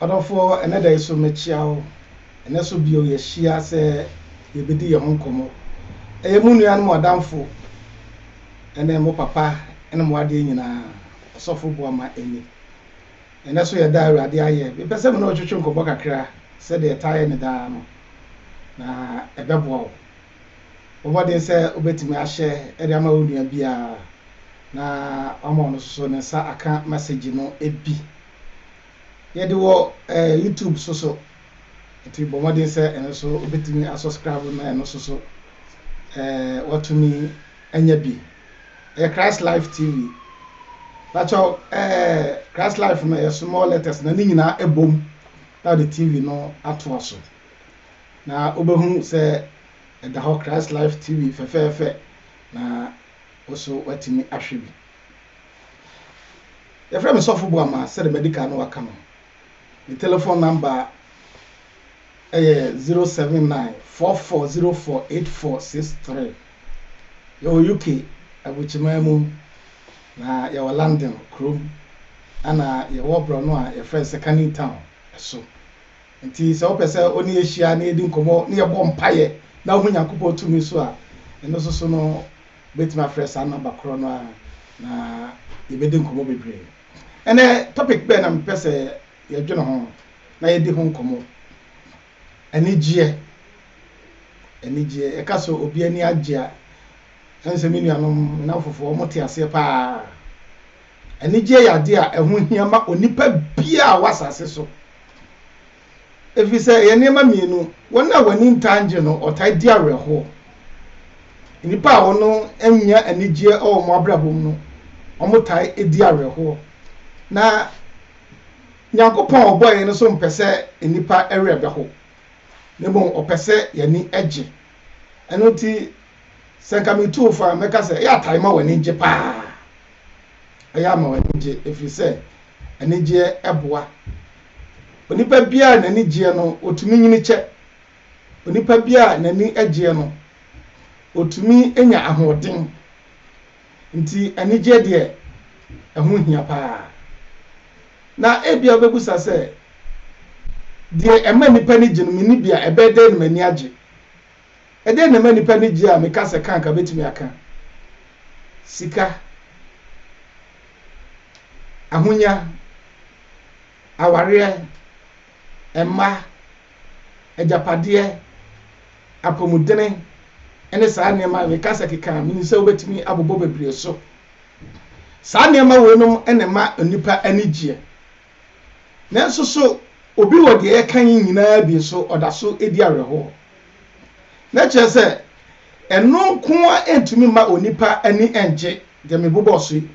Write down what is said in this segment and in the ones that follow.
Ɔdɔfoɔ, ɛnnɛ da yi so mekyea wo. Ɛnnɛ so bio yɛahyia sɛ yɛbɛdi yɛn ho nkɔmmɔ. Ɛyɛ mo nua ne mo adamfo ne mo papa ne mo adeɛ nyinaa, Ɔsɔfo Boama Ani. Ɛnnɛ so yɛ da a Awurade ayɛ. Mepɛ sɛ me ne wo twetwe nkɔmmɔ kakra sɛdeɛ ɛtaa yɛ me daa no, na ɛbɛboa wo. Bɔ mmɔden sɛ wubetumi ahyɛ de ama wo nua biara na wama ɔno nso ne nsa aka mɛsegye no bi. Yɛde wɔ YouTube nso so, nti bɔ mmɔden sɛ ɛno nso wubetumi asɔskraibo na ɛno nso so watumi anya bi. Ɛyɛ Christ Life TV. Bàtchɔ Christ Life no yɛ small letters na ne nyinaa ɛbom na ɔde TV no atoa so. na wobɛhunu sɛ ɛda hɔ Christ Life TV fɛfɛɛfɛ na wo so woatumi ahwɛ bi. Yɛfrɛ me Sɔfo Boama sɛde madi kan no waka no. Me telephone number ɛyɛ 07944048463. Yɛwɔ UK, Abukyiman mu, na yɛwɔ London kurom, ɛna yɛwɔ borɔno a yɛfrɛ sɛ Canning Town so. Enti sɛ wopɛ sɛ wo ne yɛn hyia na yɛdi nkɔmmɔ na yɛbɔ mpaeɛ na wohu Nyankopɔn tumi nso a, ɛno nso so no, wobɛtumi afrɛ saa nɔmba korɔ no ara na yɛbɛdi nkɔmmɔ bebree. Ɛnnɛ, topic bɛn na mepɛ sɛ yɛdwene ho na yɛdi ho nkɔmmɔ? Anigyeɛ. Anigyeɛ. Yɛka sɛ obi ani agye a, ɛne sɛ me nuanom, me nnamfofoɔ, wɔte aseɛ paa. Anigyeɛ yɛ adeɛ a ɛho hia ma onipa biara a ɔwɔ asase so, ɛfiri sɛ ɛyɛ nneɛma mmienu, wɔn a wɔn ani ntaa ngye no, wɔtaa di awerɛhoɔ. Nnipa a wɔn nnya anigyeɛ wɔ wɔn abrabɔ mu no, wɔtaa di awerɛhoɔ. Na Nyankopɔn a ɔbɔɔ yɛn no nso mpɛ sɛ nnipa werɛ bɛho, na mmom ɔpɛ sɛ yɛn ani gye. Ɛno nti, sɛ nka metu wo fo a, mɛka sɛ yɛ a tae ma w'ani ngye paa. Ɛyɛ ama w'ani gye ɛfiri sɛ anigyeɛ boa. Onipa biara a n'ani gyeɛ no, ɔtumi nyini kyɛ. Onipa biara a n'ani gyeɛ no, ɔtumi nya ahoɔden. Nti anigyeɛ deɛ, ɛho hia pa ara. Na ebia wobɛbusa sɛ, deɛ ɛma nnipa ani gye no, menni bi a, ɛbɛyɛ dɛn na m'ani agye? Ɛdeɛn na ɛma nnipa ani gye a meka sɛ ka anka mɛtumi aka? Sika, ahonya, awareɛ, mma, agyapadeɛ, apɔmudene, ne saa nneɛma a meka sɛ keka a menim sɛ wobɛtumi abobɔ bebree so. Saa nneɛma weinom na ɛma nnipa ani gyeɛ. Nanso so obi wɔ deɛ yɛka yi nyinaa bi so ɔda so di awerɛhoɔ? Na kyerɛ sɛ, ɛno nko ara ntumi mma onipa ani nnye, deɛ mebobɔɔ so yi,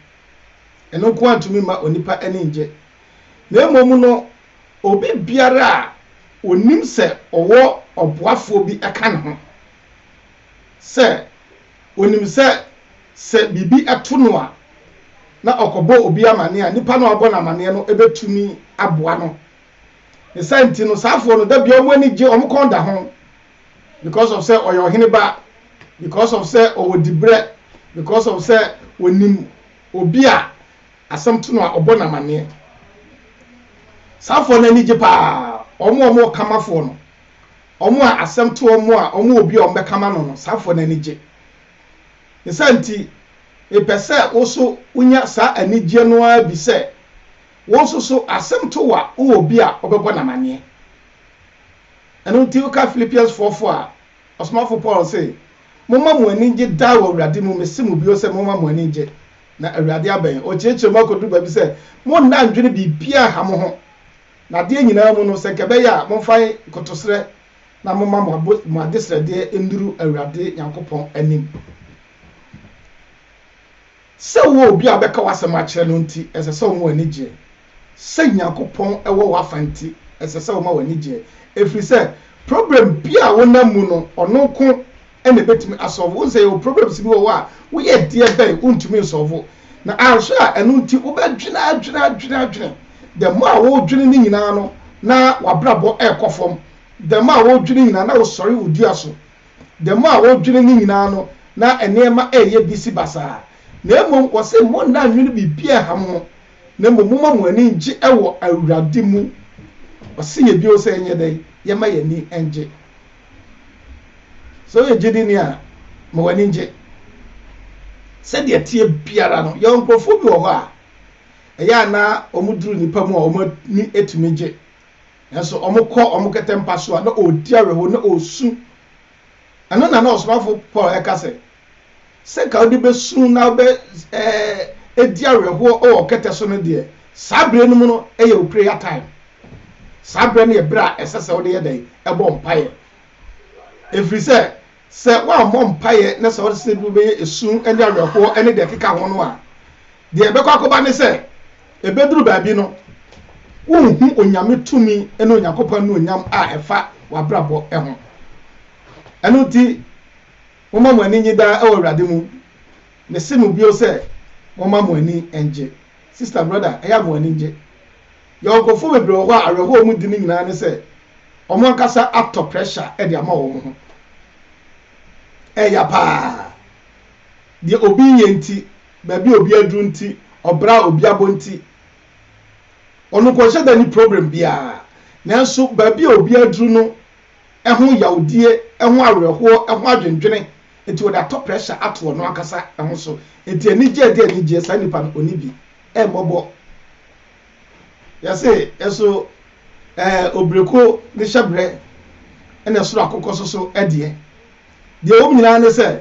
ɛno nko ara ntumi mma onipa ani nnye, na mmom no, obi biara a ɔnim sɛ ɔwɔ ɔboafoɔ bi ka ne ho, sɛ ɔnim sɛ, sɛ biribi to no a, na ɔkɔbɔ obi amaneɛ a, nipa no a ɔrebɔ no amaneɛ no bɛtumi aboa no. Ne saa nti no, saa afoɔ no, da bia wɔn ani gye, wɔn kɔn da ho. Because of sɛ ɔyɛ ɔhene ba, because of sɛ ɔwɔ dibrɛ, because of sɛ wɔnim obi a asɛm to no a ɔbɔ no amanneɛ. Saa afoɔ no ani gye paa, wɔn a wɔwɔ kamafoɔ no, wɔn a asɛm to wɔn a wɔn wɔ obi a wɔbɛkama no no, saa afoɔ no ani gye. Ne saa nti, mepɛ sɛ wo so wonya saa anigyeɛ no ara bi sɛ, Wo nso so, asɛm to wo a, wowɔ obi a wobɛbɔ no amanneɛ. Ɛno nti, woka Filipiansfoɔ fo a, ɔsomafo Paul se, Momma mo ani nnye daa wɔ Awurade mu, mese mo bio sɛ, momma mo ani nnye. Na Awurade abɛn. Ɔkyerɛkyerɛ mu akɔduru baabi sɛ, Monna nnwene biribiara ha mo ho, na adeɛ nyinaa mu no, sɛ anka ɛbɛyɛ a, momfa nkotosrɛ na momma mo adesrɛdeɛ nnuru Awurade Nyankopɔn anim. Sɛ wowɔ obi a ɔbɛka w'asɛm akyerɛ no nti, ɛsɛ sɛ woma w'ani gye. Sɛ Nyankopɔn wɔ w'afa nti, ɛsɛ sɛ woma w'ani gye, ɛfiri sɛ problem bi a wonam mu no, ɔno nko na ɛbɛtumi asɔlvo. Wohu sɛ yɛwɔ problems bi wɔ hɔ a, woyɛ deɛ bɛn, wontumi nsɔlvo. Na anhwɛ a, ɛno nti wobɛdwene adwene adwene adwene. The more a wodwene no nyinaa no, na w'abrabɔ rekɔ fam. The more a wodwene nyinaa, na wosɔre wo dua so. Da mu a wodwene ne nyinaa no, na nneɛma reyɛ bisi basaa. Na mmom wɔse, Monna nnwene biribi a ɛha mo ho, na mmom momma mo ani ngye wɔ Awurade mu. Ɔse yɛ bio sɛ yɛnyɛ dɛn? Yɛmma yɛn ani ngye. Sɛ woyɛ gyedini a, ma w'ani ngye. Sɛdeɛ ɛteɛ biara no, yɛwɔ nkurɔfoɔ bi wɔ hɔ a, ɛyɛ a na wɔduru nnipa mu a wɔn ani tumi gye. Nanso wɔkɔ wɔn kɛtɛ mpa so a, na wɔredi awerɛhow, na wɔresu. Ɛno na na ɔsomafo Paul reka sɛ, Sɛ anka wode bɛsu na wobɛdi awerɛhow wɔ wo kɛtɛ so no deɛ, saa bere no mu no yɛ wo prayer time. Saa bere no yɛ bere a ɛsɛ sɛ wode yɛ dɛn? Bɔ mpaeɛ. Ɛfiri sɛ, Sɛ woammɔ mpaeɛ na sɛ wosesa bi wobɛyɛ esu ne awerɛhoɔ ne deɛ ɛkeka ho no a, deɛ ɛbɛkɔ akɔba ne sɛ, ɛbɛduru baabi no, worenhu Onyame tumi ne Onyankopɔn anuonyam a ɛfa w'abrabɔ ho. Ɛno nti, momma mo ani nnye daa wɔ Awurade mu. Mese mo bio sɛ, momma mo ani nnye. Sista, brɔda, ɛyɛ a mo ani nnye. Yɔnkofo bebree wɔ hɔ a awerɛhow a wɔdi no nyinaa ne sɛ wɔn ankasa atɔ pressure de ama wɔn ho. Ɛyɛ ya paa. Deɛ obi reyɛ nti, baabi a obi aduru nti, ɔbra a obi abɔ nti, ɔno nkɔnhyɛ da nni problem biara. Nanso baabi a obi aduru no ho yawdie, ɛho awerɛhoɔ, ɛho adwendwene nti wɔde atɔ pressure ato ɔno ankasa ho so. Nti anigyeɛ de anigyeɛ saa nipa no ɔnni bi, ɛmmɔbɔ. Yɛse nso ɛɛ Obireko ne hyɛbrɛ na ɛsoro akokɔ soso deɛ. Deɛ ɛwɔ mu nyinaa ne sɛ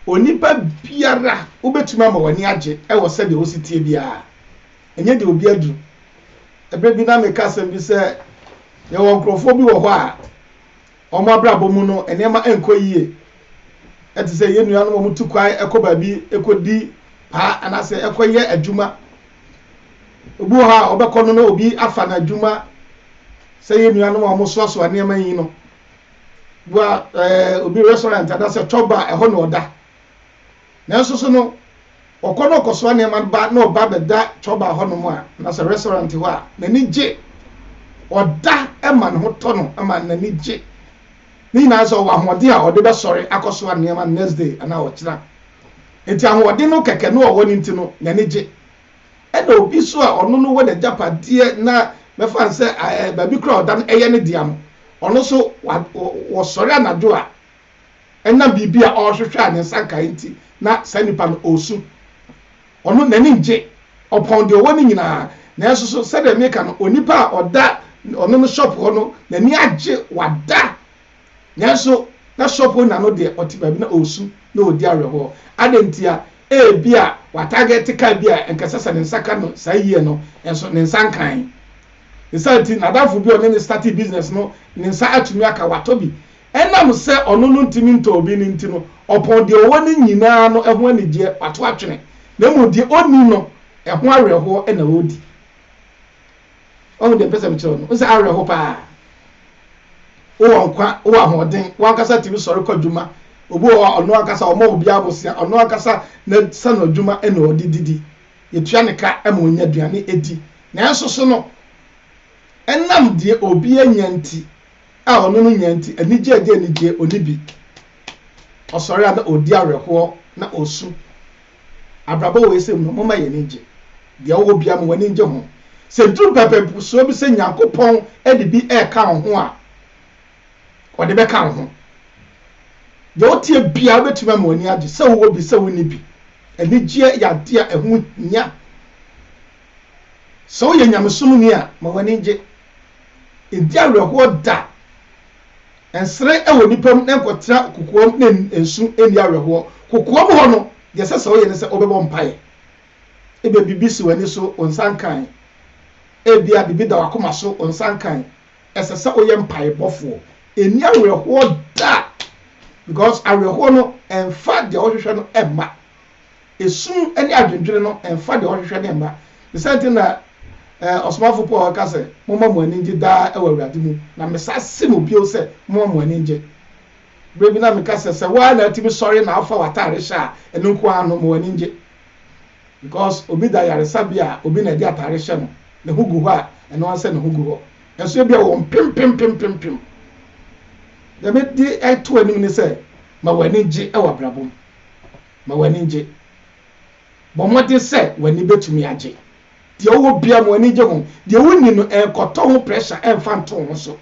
onipa biara wobɛtumi ama w'ani agye wɔ sɛdeɛ wosi tie biara. Ɛnyɛ deɛ obi aduru. Ɛberɛ bi na meka asɛm bi sɛ yɛwɔ nkorɔfoɔ bi wɔ hɔ a Wɔn abrabɔ mu no, nneɛma nkɔ yiye. Te sɛ yɛn nuanom a wɔtu kwan kɔ baabi kodi paa anaasɛ kɔyɛ adwuma. Obi wɔ hɔ a, ɔbɛkɔ no na obi afa no adwuma. Sɛ yɛn nuanom a wɔsoasoa nneɛma yi no, bi a ɛɛ obi restaurant anaasɛ chɔba a ɛhɔ na ɔda. Nanso so no ɔkɔ na ɔkɔsoa nneɛma no ba na ɔba bɛda Choba hɔnom a, anasɛ restaurant hɔ a, n'ani gye? Ɔda ma ne ho tɔ no ma n'ani gye. Ne nyinaa sɛ ɔwɔ ahoɔden a ɔde bɛsɔre akɔsoa nneɛma next day anaa ɔkyena. Enti ahoɔden no kɛkɛ no a ɔwɔ no nti no, n'ani gye. Ɛna obi nso a ɔno no wɔ n'agyapadeɛ na bɛfa no sɛ baabi koraa ɔda no yɛ ne dea no, ɔno nso wɔsɔre anadwo a, ɛnam biribi a ɔrehwehwɛ a ne nsa nkae nti, na saa nipa no ɔresu. Ɔno, n'ani nnye. Ɔpɔn deɛ ɔwɔ no nyinaa. Nanso so, sɛdeɛ meka no, onipa a ɔda ɔno no shop hɔ no, n'ani agye, wada, nanso na shop owner no deɛ, ɔte baabi na ɔresu, na ɔredi awerɛhoɔ. Adɛn ntia? Ebia watarget car bi a anka ɛsɛ sɛ ne nsa ka no saa year no, nanso ne nsa nkae. Ne saa nti, n'adamfo bi a ɔne no startee business no, ne nsa atumi aka, watɔ bi. Ɛnam sɛ ɔno no ntumi ntɔ obi no nti no, ɔpɔn deɛ ɔwɔ no nyina ara no ho anigyeɛ, wato atwene, na mmom deɛ ɔnni no, ɛho awerɛhoɔ na ɔredi. Wahu deɛ mpɛ sɛ mekyerɛ wo no? Wo sɛ awerɛho pa ara. Wowɔ nkwa, wowɔ ahoɔden, wankasa tumi sɔre kɔ adwuma, obi wɔ hɔ a ɔno ankasa ɔmmɔ obi abosea, ɔno ankasa n'asano adwuma na ɔde didi, yɛtua ne ka ma ɔnya aduane di, nanso so no, ɛnam deɛ obi anya nti, a ɔne no nya nti, anigye a ɛde anigye a onni bi. Ɔsɔre a na ɔredi awerɛhoɔ na ɔresu. Abrabɔ wei sɛ mu no, momma yɛn ani nnye. Deɛ wowɔ biara mu, w'ani nnye ho. Sɛ ɛduru pɛpɛpusoɔ bi sɛ Nyankopɔn de bi reka wo ho a, Ɔde bɛka wo ho. Deɛ woteɛ biara bɛtumi ama w'ani agye, sɛ wowɔ bi, sɛ wonni bi. Anigyeɛ yɛ adeɛ a ɛho hia. Sɛ woyɛ nyamesomni a, ma w'ani nnye. Ɛdi awerɛhoɔ da. Nsere wɔ nnipa mu na nkɔtra kokoa mu na nsu nni awerɛhoɔ. Kokoa mu hɔ no, deɛ ɛsɛ sɛ woyɛ ne sɛ wobɛbɔ mpaeɛ. Ebia biribi si w'ani so, wo nsa nkae. Ebia biribi da w'akoma so, wo nsa nkae. Ɛsɛ sɛ woyɛ mpaebɔfoɔ. Ɛnni awerɛhoɔ da because awerɛhoɔ no ɛmfa deɛ wohwehwɛ no mma. Esum ne adwendwene no mfa deɛ ɔhwehwɛ no mma. Ne saa nti na ɔsomafo Paul ka sɛ, Momma mo ani nnye daa wɔ Awurade mu. Na mesa se mo bio sɛ, momma mo ani nnye. Berɛ bi na meka sɛ, sɛ wo ara na atumi sɔre na afa w'atare hyɛ a, ɛno nko ara no, ma w'ani nnye. Because obi da yaresabea a, obi na ɛde atare hyɛ no, ne ho gu hɔ a, ɛno ara sɛ ne ho gu hɔ. Nso ebia wɔ mpempempempempem. Deɛ mede reto w'anim ne sɛ, ma w'ani nnye wɔ abrabɔ mu. Ma w'ani nnye. Bɔ mmɔden sɛ w'ani betumi agye. Deɛ wowɔ biara mu, w'ani nnye ho. Deɛ wonni no, ɛnkɔtɔ ho pressure ɛmfa nto wo ho so.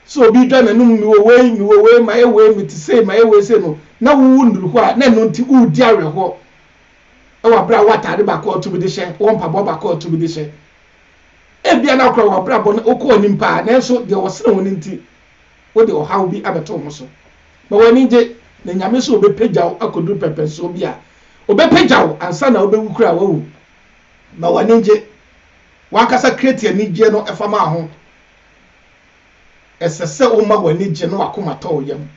Sɛ obi redwa n'anom, mewɔ wei, mewɔ wei, mayɛ wei, mete sei, mayɛ wei sei no, na wowo nnuru hɔ a, na ɛno nti woredi awerɛhoɔ wɔ berɛ a wowɔ ataade baako a wotumi de hyɛ, wowɔ mpaboa baako a wotumi de hyɛ. Ebia na wokora w'abrabɔ no, wokɔ w'anim paa, nanso deɛ wɔsene wo no nti, Wode ɔhaw bi abɛto wo ho so ma w'ani gye, na Nyame sɛ ɔbɛpagya wo akɔduru pɛmpɛnsoɔ bi a Ɔbɛpagya wo ansa na wobɛwu koraa, wawu. Ma w'ani ngye. W'ankasa create anigyeɛ no fa ma ho. Ɛsɛ sɛ woma w'ani gye na w'akoma tɔ wo yam.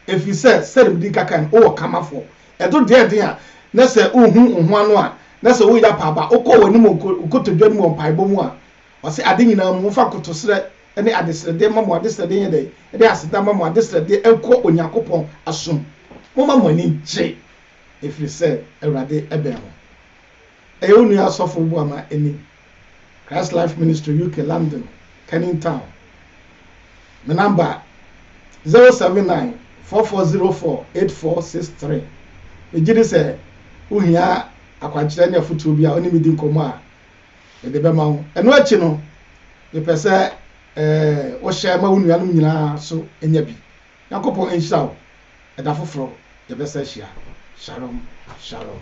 Ɛfiri sɛ, sɛdeɛ medi nka kae no, wowɔ Kamafoɔ. Ɛto deɛɛden a, na sɛ wohu wo ho ano a, na sɛ woreyɛ apaaba a, wokɔ w'anim wɔ nkotodwe anim wɔ mpaebɔ mu a, Ɔse ade nyinaa mu momfa nkotosrɛ ne adesrɛdeɛ mma mo adesrɛdeɛ nyɛ dɛn? Ɛde aseda mma mo adesrɛdeɛ nkɔ Onyankopɔn asom. Momma mo ani nkye ɛfiri sɛ Awurade bɛn ho. Ɛyɛ wo nua Sɔfo Obuama Ani, Christ Life Ministry UK London, Canning Town. Me number, zero seven nine four four zero four eight four six three. Megyedi sɛ wohia akwankyerɛ ne afotuo bi a wone me di nkɔmmɔ a, Mede bɛma wo. Ɛno akyi no, mepɛ sɛ wohyɛ ma wo nuanom nyinaa nso nya bi. Nyankopɔn nhyira wo. Ɛda foforɔ yɛbɛsan ahyia. Shalom, shalom.